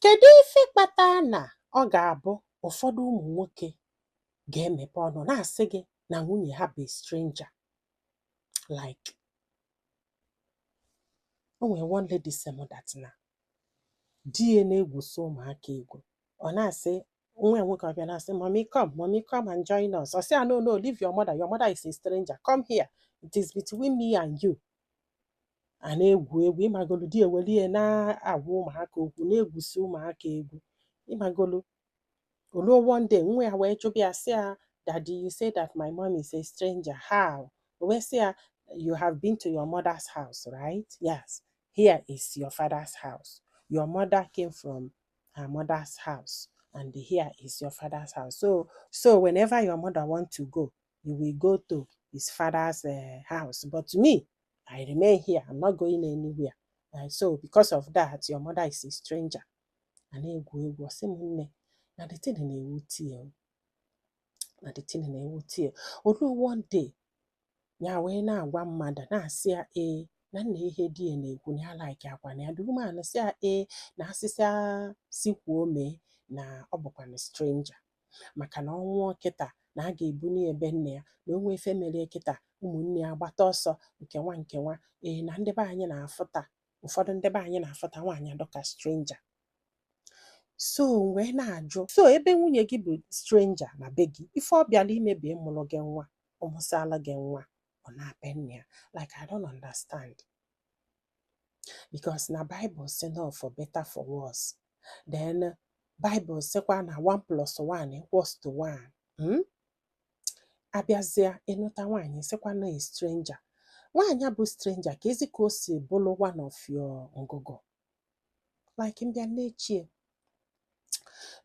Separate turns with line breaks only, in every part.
Kedu ife kpatara na ọ ga-abụ ụfọdụ ụmụ nwoke ga-emepe ọnụ na-asị gị na nwunye ha bụ stranger like o nwere one lady sị m that na di ya na-egwusi ụmụaka egwu ọ na-asị nwa ya nwoke ọ bịa na-asị mommy come mommy come and join us ọ sị ya no no leave your mother your mother is a stranger come here it is between me and you a na-egwu egwu ị magolu di eweli ya na-agwa ụmụaka okwu na-egwusi ụmụaka egwu ị magolu o luo one day nwa ya wee jụba ya sị ya daddy you say that my mom is a stranger how o wee sị ya you have been to your mother's house right yes here is your father's house your mother came from her mother's house and here is your father's house so whenever your mother want to go you will go to his father's uh, house but me i remain here i'm not going anywhere uh, so because of that your mother is a stranger a na-egwu egwu ọ sị m nne na the thing na-ewute ya na the thing na-ewute ya o luo one day ya wee na-agwa mmadụ na-asị ya ee na nee ihe di ya na-ekwu na ya like akwa na ya the woman sị ya ee na asịsị sikwuo mee na ọ bụkwanụ stranger maka na ọ nwụọ kịta na a ga-ebunye ya ebe nne ya na o nwee ife meli kịta ụmụnne ya gbata ọsọ nke nwa nke nwa ee na ndị be anyị na-afụta ụfọdụ ndị be anyị na-afụta nwaanyị dịka stranger so m wee na-ajụ so ebe nwunye gị bụ stranger na be gị ife ọ bịalụ ime bụ ịmụrụ gị nwa ọ mụsịalụ gị nwa ọ naa be nne ya like I don't understand because na Bible sị na for better for worse then Bible sịkwa na 1 plus 1 equals to 1 hmm? a bịazịa ịnụta nwaanyị sịkwa na e stranger nwaanyị bụ stranger kezi ka o si bụrụ one of your ngụgụ like m bịa na-eche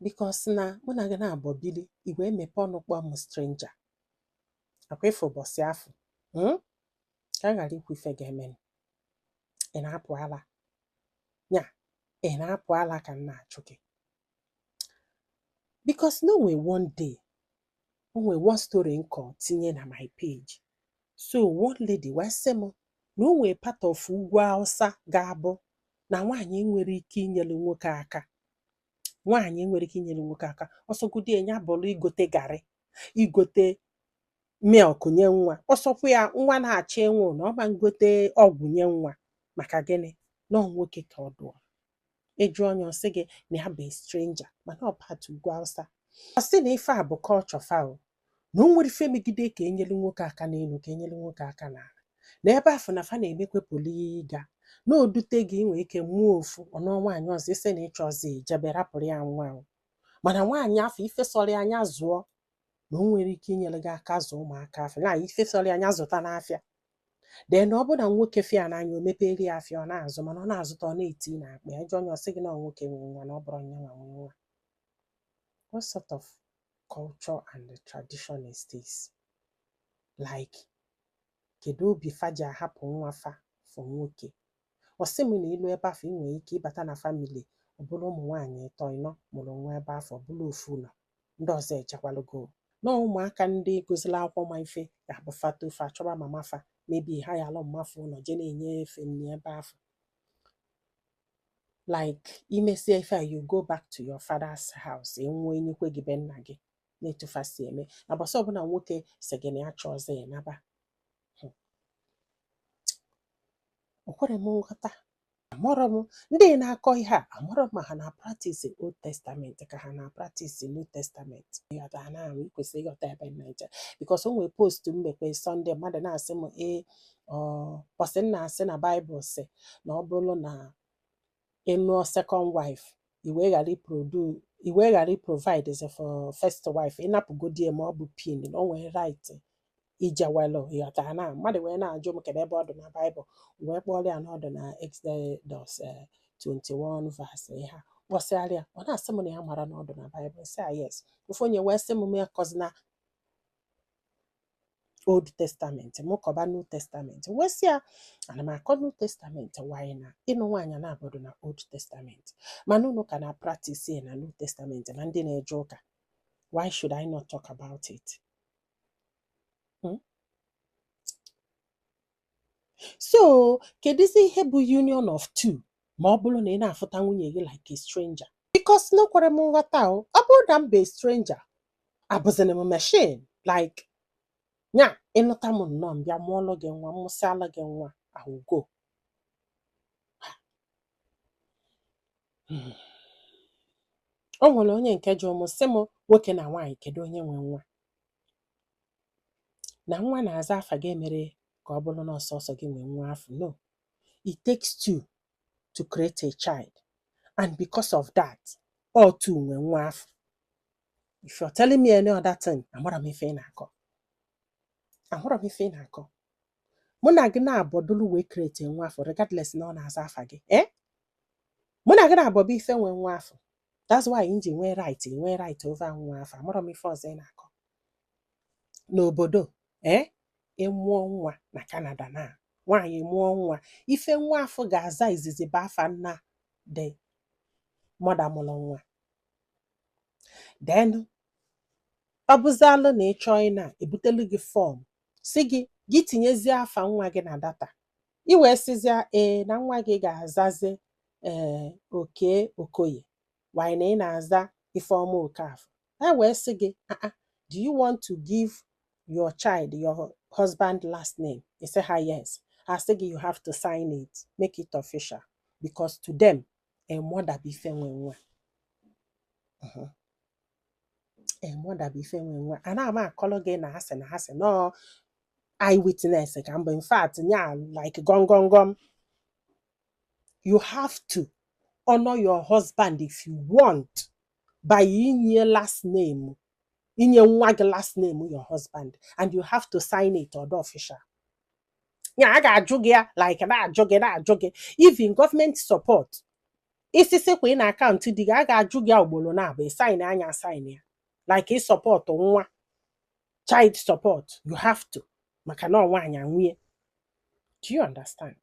because na mụ na gị naabọ bili ị wee mepe ọnụ kpọọ m stranger akwa ị fụ ụbọsị afụ hmm? ka a ghara ikwu ife ga-eme ị na-apụ ala ya ị na-apụ ala ka m na-achụ gị because na o nwe one day o nwe one story m kọ tinye na my page so one lady wee sị m na o nwe part of ugwu Awụsa ga-abụ na nwaanyị nwere ike inyere nwoke aka nwaanyị nwere ike inyere nwoke aka ọ sọgodi ya bụrụ igote garị igote milk nye nwa ọ sọkwa ya nwa na-achọ ịnwụ na ọ ma ngote ọgwụ nye nwa maka gịnị na ọ nwoke ka ọ dụọ ị jụọ nya ọ sị gị na ya bụ stranger mana ọ part ugwu awụsa ọ sị na ife a bụ culture fa o na o nwere ife megide ka enyere nwoke aka n'elu ka enyere nwoke aka n'ala na ebe afụ na fa na-emekwe polygamy na o dute gị ị nwere ike mụọ ofu ọ nụọ nwaanyị ọzọ ị sị na ị chọọzị jebe rapụrụ ya nwa mana nwaanyị afụ ife sọrọ ya anya zụọ na o nwere ike inyere gị aka zụọ ụmụaka afụ na ife sọrọ ya anya zụta n'afịa then na ọ bụ na nwoke fụ ya n'anya o mepeere ya afịa ọ na-azụ mana ọ na-azụta ọ na-eti n'akpa ya jụọ nya ọ sị gị na ọ nwoke nwere nwa na ọ bụrọ nya nwa nwe nwa what sort of culture and tradition is this like kedu obi fa ji ahapụ nwa fa for nwoke Ọ sị m na i lu ebe afụ ị nwere ike ịbata na family ọ bụrụ ụmụ nwaanyị ịtọ ịnọ mụrụ nwa ebe afụ ọ bụrụ ofu nọ ndị ọzọ ejekwalụgo. Na ụmụaka ndị gụzịlị akwụkwọ ma ife ga-abụ fa too fa achọba mama fa maybe hayalụ mma fa ụlọ je na-enye fe nri ebe afụ. Like i mesie ife a you go back to your father's house ị nwụọ enikwe gị be nna gị na etu fa si eme. Na mbọsị ọbụla nwoke sị gị na ya achọọzị ya naba o kwere m nghọta amarọ m ndị na-akọ ihe a amarọ m ma ha na practice old testament ka ha na practice new testament ị ghọta now i kwesị ịghọta ebe m na-eje because o nwere post m mekwe Sunday mmadụ na-asị m ee mbọsị m na-asị na bible sị na ọ bụrụ na ị lụọ second wife i wee ghara iprodu i wee ghara iprovidezị for first wife ị napụgodie ma ọ bụ pin na o nwere right ijewelu ị ghọta na mmadụ wee na-ajụ m kedu ebe ọ dị na bible m wee kpọrọ ya na ọ dị na exodus eh, 21 verse ihe a kpọsịara ya ọ na-asị m na ya mara na ọ dị na bible sị ya yes ofu onye wee sị m mụ akọzina old testament m kọba new testament wee sị ya ana m akọ new testament why na ịnụ nwaanyị naabọ dụ na old testament mana unu ka na practice ya na new testament ma ndị na-eje ụka why should i not talk about it Hmm? so kedụzi ihe bụ union of two ma ọ bụrụ na ị na-afụta nwunye gị like a stranger because na o kwere m nghọta o ọ bụrụ na m bụ a stranger abụzịrị m machine like nya ị nụta m nnọọ m bịa mụọlụ gị nwa m mụsịalụ gị nwa ọ gwụgo o nwere onye nke jụrụ m sị m nwoke na nwaanyị kedu onye nwe nwa na nwa na-aza afa gị emere ka ọ bụrụ na ọ sọsọ gị nwe nwa afụ no it takes two to create a child and because of that ọ two nwe nwa afụ if you're telling me any other thing amarọ m ife ị na-akọ amarọ m ife ị na-akọ mụ na gị naabọ dụlụ wee create nwa afụ regardless na ọ na-aza afa gị ee mụ na gị naabọ bụ ife nwe nwa afụ that's why m ji nwee right nwee right over nwa afụ amarọ m ife ọzọ ị na-akọ n'obodo ee eh, ị mụọ nwa na Canada na nwaanyị mụọ nwa ife nwa afụ ga-aza izizi bụ afa nna the mother mụrụ nwa then ọ bụzịalụ na ị chọọ ịna e butelu gị form sị gị gị tinyezie afa nwa gị na data i wee sịzịa ee na nwa gị ga-azazi ee Oke Okoye while na ị na-aza Ifeọma Okafọ ha wee sị gị "Ah, ah, do you want to give your child your husband last name ị sị ha yes ha sị gị you have to sign it make it official because to them a mother bụ ife nwe nwa Mhm. mother bụ ife nwe nwa ana m akọrọ gị na a sị na a sị no eye witness ka m bụ in fact nya like gọngọngọm you have to honor your husband if you want by inye last name inye nwa gị last name your husband and you have to sign it ọ dị official ya a ga-ajụ gị ya like na-ajụ gị na-ajụ gị even government support isisi kwa ị na account di gị a ga-ajụ gị ya ugboro naabọ ị sign nya a sign ya like ịsupport nwa child support you have to maka na ọ nwaanyị a nwe ya do you understand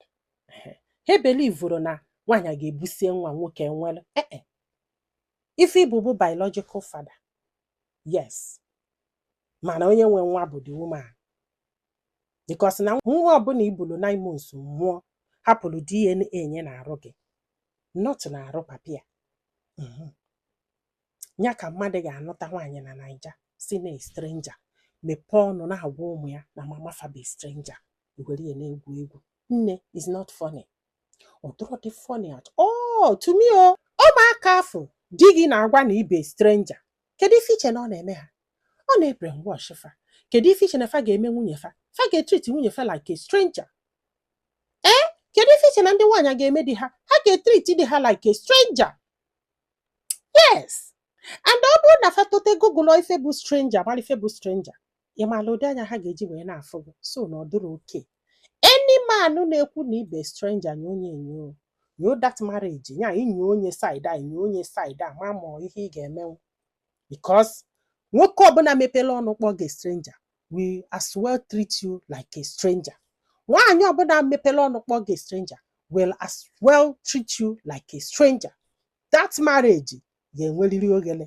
Ehe. ha believuru na nwaanyị a ga-ebusie nwa nwoke ewere ee ife ị bụ bụ biological father yes mana onye nwe nwa bụ the woman because na nwa ọbụla i bulu nine months mụọ hapụrụ DNA nye na arụ gị not na arụ papa ya Mhm. ya ka mmadụ ga-anụta nwaanyị na Naija sị na a stranger mepee ọnụ na-agwa ụmụ ya na mama fa bụ a stranger i were ya na-egwu egwu nne is not funny ọ dụrọ dị funny at all to me ọ ụmụaka afụ di gị na-agwa na ị bụ a stranger kedu ife i che na ọ na-eme ha ọ na-ebrainwash fa kedu ife i che na fa ga-eme nwunye fa fa ga-etreat nwunye fa like a stranger ee kedu ife i che na ndị nwaanyị a ga-eme di ha ha ga-etreat di ha like a stranger yes and ọ bụrụ na fa tote google ife bụ stranger mara ife bụ stranger ị maala ụdị anya ha ga-eji wee na-afụ gị so na ọ dịrọ okay any man na-ekwu na ị bụ a stranger nye onye enyo nyo that marriage nya inyo onye side eye inyo onye side eye ma ma ihe ị ga-emenwu because nwoke ọbụla mepele ọnụ kpọọ gị stranger will as well treat you like a stranger nwaanyị ọbụla mepele ọnụ kpọọ gị stranger will as well treat you like a stranger that marriage ga-enwerịrị oghele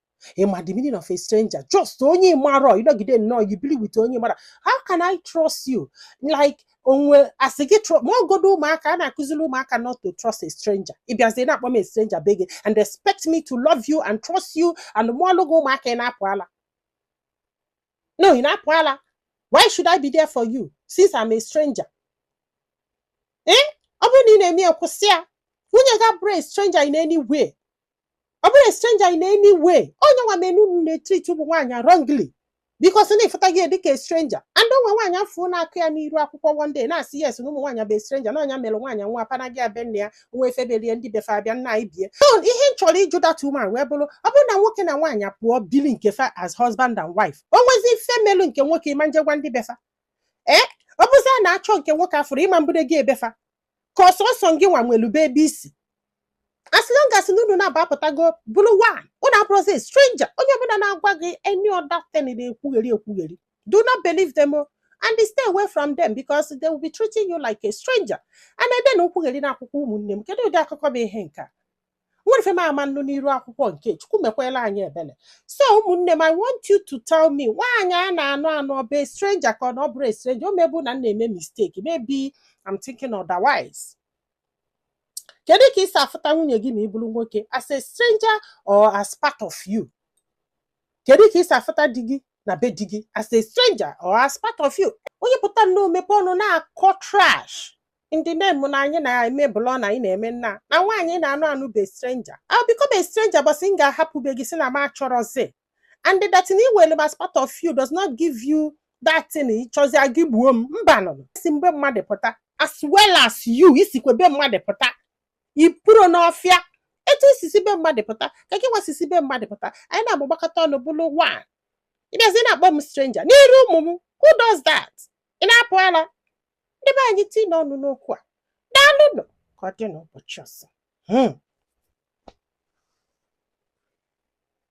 ị ma the meaning of a stranger just onye ị marọ ị nọgide nnọọ i bili with onye ị marọ how can I trust you like a sị gị ma ọgodu ụmụaka a na-akụzili ụmụaka not to trust a stranger ị bịazie na-akpọ m a stranger be gị and expect me to love you and trust you and mụọlụ gị ụmụaka ị na-apụ ala no ị na-apụ ala why should I be there for you since I'm a stranger eh ọ bụrụ na ị na-eme ya kwụsị ya nwunye gị abụrọ a stranger in any way ọ bụrọ stranger in any way ọ nya nwa melu unu na-etreat ụmụ nwaanyị wrongly because na ị fụta gị dịka stranger and o nwe nwaanyị m fụ na-akọ ya n'iru akwụkwọ one day na-asị yes na ụmụ nwaanyị bụ stranger na ọ nya mere nwaanyị nwa pana gị abịa nne ya nwa efebelie ndị be fa abịa nna anyị bie so ihe m chọrọ ịjụ that woman wee bụrụ ọ bụrụ na nwoke na nwaanyị pụọ bili nke fa as husband and wife o nwezi ife melu nke nwoke ị ma-eje gwa ndị be fa ee ọ bụzi a na-achọ nke nwoke afụrọ ị ma mbude gị ebe fa ka ọ sọsọ gị nwa nwelu be ebe i si as long as na unu naabọ apụtago bụlụ one unu abụrọzi stranger onye ọbụla na-agwa gị any other thing na-ekwugheri ekwugheri do not believe them o and stay away from them because they will be treating you like a stranger and then nkwugheri na akwụkwọ ụmụnne m kedu ụdị akụkọ bụ ihe nke a nwere ife m ama anụ n'iru akwụkwọ nke chukwu mekwelu anyị ebele so ụmụnne m i want you to tell me nwaanyị a na-anụ anụ ọ bụ a stranger ka ọ na ọ bụrọ a stranger o mebu na m na-eme mistake maybe I'm thinking otherwise kedu ka i si afụta nwunye gị ma ị bụrụ nwoke as a stranger or as part of you kedu ka i si afụta di gị na be di gị as a stranger or as part of you onye pụta nnọọ mepe ọnụ na-akọ trash in the name na anyị na-eme blog na anyị na-eme nna na nwaanyị na-anụ anụ bụ a stranger I'll become a stranger mbọsị m ga-ahapụ be gị sị na m achọrọzi and that na i were m as part of you does not give you that thing ị chọzie ka ị gbuo m mba nụ m si be mmadụ pụta as well as you i sikwa be mmadụ pụta i purọ n'ọfịa etu m si si be mmadụ pụta ka gị nwa si si be mmadụ pụta anyị naabọ gbakọta ọnụ bụrụ one ị bịazi na-akpọ m stranger n'iru ụmụ m who does that ị na-apụ ala ndị be anyị tiinụ ọnụ n'okwu a daalụnụ ka ọ dị n'ụbọchị ọzọ